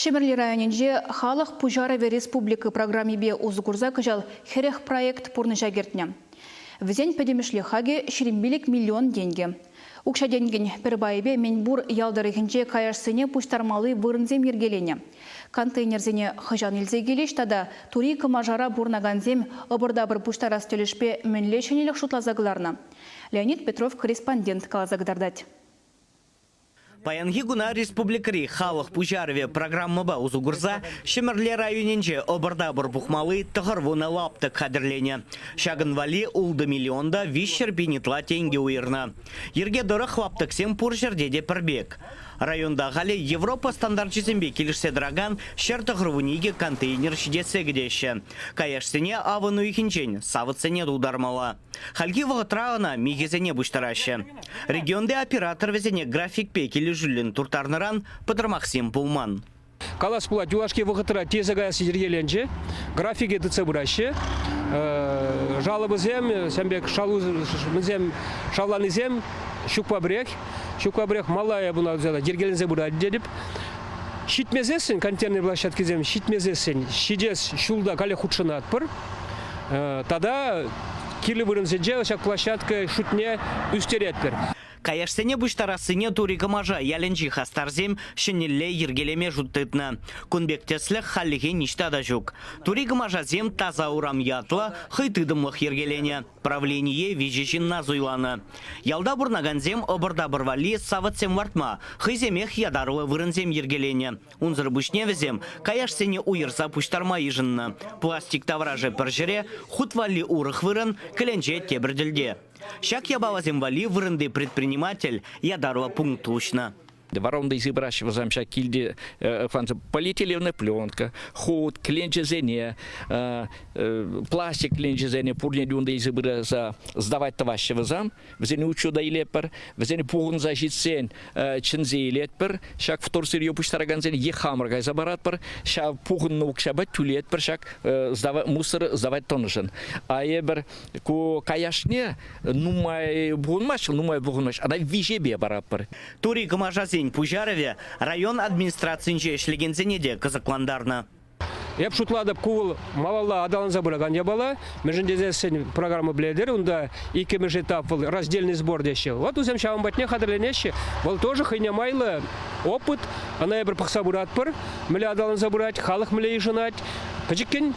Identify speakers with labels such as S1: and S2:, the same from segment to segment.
S1: Ҫӗмӗрле районӗнче Халӑх пуҫарӑвӗ республика программипе усӑ курса кӑҫал хӗрех проект пурнӑҫа кӗртнӗ. Вӗсен пӗтӗмӗшле хакӗ ҫирӗм пилӗк миллион тенкӗ. Укҫа-тенкӗн пӗр пайӗпе мӗнпур ял тӑрӑхӗнче каяшсене пуҫтармалли вырӑнсем йӗркеленӗ. Контейнерсене хӑҫан илсе килӗҫ тата тури Кӑмашара пурӑнакансем ӑпӑр-тапӑр пуҫтарас тӗлӗшпе мӗнле ҫӗнӗлӗх шутласа кӑларнӑ? Леонид Петров корреспондент каласа кӑтартать.
S2: Паянхи куна республикӑри халӑх пуҫарӑвӗ программӑпа усӑ курса Ҫӗмӗрле районӗнче ӑпӑр-тапӑр пухмалли тӑхӑрвунӑ лаптӑк хатӗрленӗ. Ҫакӑн валли ултӑ миллион та виҫҫӗр пин ытла тенкӗ уйӑрнӑ. Йӗрке тӑрӑх лаптӑксем пур ҫӗрте те пӗр пек. Районта халӗ Европа стандарчӗсемпе килӗшсе тӑракан ҫӗр тӑхӑрвун икӗ контейнер ҫитессе кӗтеҫҫӗ. Каяшсене авӑн уйӑхӗнчен савӑтсене тултармалла. Хальхи вӑхӑтра ӑна михӗсене пуҫтараҫҫӗ. Регионти оператор вӗсене графикпе килӗшӳллӗн турттарнӑран пӑтӑрмахсем пулман. Калас пулать,
S3: юлашки вӑхӑтра тесе каясси йӗркеленчӗ. Графике тытса пыраҫҫӗ жалобӑсем. Сан пек мӗнсем шавланисем ҫукпа пӗрех. Ҫукпа пӗрех малая пуна йӗркеленсе пырать тетӗп. Ҫитмесессӗн контейнер площадкисем ҫитмесессӗн ҫитес ҫулта каллех хутшӑнатпӑр. Тата кирлӗ вырӑнсенче ҫак площадка шутне ӳстеретпӗр. Каяшсене
S2: пуҫтарассине Тури Кӑмаша ялӗнчи хастарсем ҫӗнӗлле йӗркелеме шут тытнӑ. Кун пек тӗслӗх хальлӗхе ниҫта та ҫук. Тури Кӑмашасем Таса урам ятлӑ хӑй тытӑмлӑх йӗркеленӗ правление виҫӗ ҫынна суйланӑ. Ялта пурӑнакансем ӑпӑр-тапӑр валли савӑтсем лартма, хӑйсемех ятарлӑ вырӑнсем йӗркеленӗ. Унсӑр пуҫне вӗсем каяшсене уйӑрса пуҫтарма йышӑннӑ. Пластик таврашӗ пӗр ҫӗре, хут валли урӑх вырӑн, кӗленче тепӗр тӗлте. Ҫак япаласем валли вырӑнти предприниматель ятарлӑ пункт уҫнӑ. Воронкӑй
S4: сыпраҫҫӗ вӗсем ҫак килти полиэтиленовная пленка, хут, кӗленчесене, пластик кӗленчесене пурне те унти сыпӑра сдавать тӑваҫҫӗ вӗсем. вӗсене учета илетпӗр, вӗсене пухӑнса ҫитсен чӗнсе илетпӗр. Ҫак вторсырье пуҫтаракансен е хамӑр кайса паратпӑр, ҫав пухӑннӑ укҫапа тӳлетпӗр ҫак мусор сдавать тӑнӑшӑн. А эпир ку каяшне нумай пухӑнмаҫҫӗ, нумай пухӑнмаҫҫӗ, ӑна виҫепе паратпӑр. Тури Кӑмашасен
S2: пуҫарӑвӗ район администрацийӗнче ӗҫлекенсене те кӑсӑклантарнӑ. Эп
S3: шутлатӑп, ку вӑл малалла аталанса пыракан япала, мӗншӗн тесессӗн программа пӗлетӗр, унта иккӗмӗш этап вӑл раздельный сбор теҫҫӗ. Вот вӗсем ҫавӑн патне хатӗрленеҫҫӗ. Вӑл тоже хӑйне майлӑ опыт. Ӑна эпир пӑхса пыратпӑр. Мӗнле аталанса пырать, халӑх мӗнле йышӑнать. Пӗчӗккӗн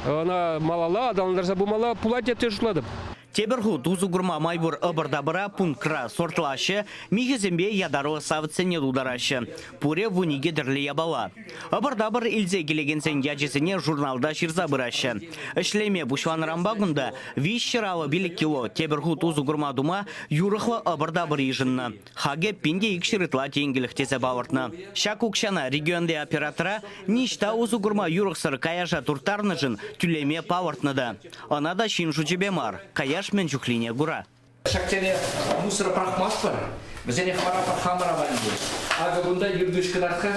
S3: ӑна малалла аталантарса пымалла пулать тесе шутлатӑп. Тепӗр хут усӑ
S2: курма май пур ӑпӑр-тапӑра пунктра сортлаҫҫӗ, михӗсемпе ятарлӑ савӑтсене тултараҫҫӗ. Пурӗ вун икӗ тӗрлӗ япала. Ӑпӑр-тапӑр илсе килекенсен ячӗсене журналта ҫырса пыраҫҫӗ. Ӗҫлеме пуҫланӑранпа кунта виҫҫӗр алӑ пилӗк кило тепӗр хут усӑ курма тума юрӑхлӑ ӑпӑр-тапӑр йышӑннӑ. Хакӗ пин те икҫӗр ытла тенкӗлӗх тесе палӑртнӑ. Ҫак укҫана регионти оператора ниҫта усӑ курма юрӑхсӑр каяша турттарнӑшӑн тӳлеме палӑртнӑ та. Ӑна та ҫын шучӗпе мар, каяш мӗн чухлине кура. Ҫак тери
S4: мусӑр пӑрахмастпӑр, вӗсенех вара хамӑр аванлетӗҫ. Акӑ кунта юркуҫ кӑтарт-ха.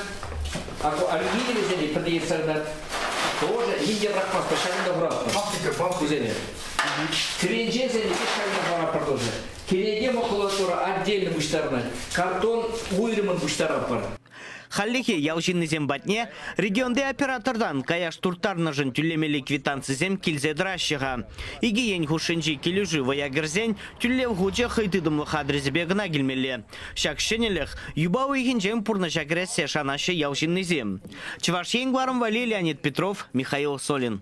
S4: Акӑ алюминиевӗсене пӗрте йӑтса кӑтарт. Тоже ним те пӑрахмастпӑр, ҫакӑн та хуратпӑр кусене. Кӗленчесен икӗ шайне паратпӑр тоже. Кӗнеке макулатура отдельно пуҫтарӑнать, картон уйрӑмӑн пуҫтаратпӑр. Хальлӗхе
S2: ял ҫыннисем патне регионти оператортан каяш турттарнӑшӑн тӳлемелли квитанцисем килсе тӑраҫҫӗ-ха. Икӗ ен хушшинчи килӗшӳ вӑя кӗрсен тӳлев хучӗ хӑй тытӑмлӑх адресӗпе кӑна килмелле. Ҫак ҫӗнӗлӗх юпа уйӑхӗнчен пурнӑҫа кӗрессе шанаҫҫӗ ял ҫыннисем. Чӑваш Ен кӑларӑмвӗ Леонид Петров, Михаил Солин.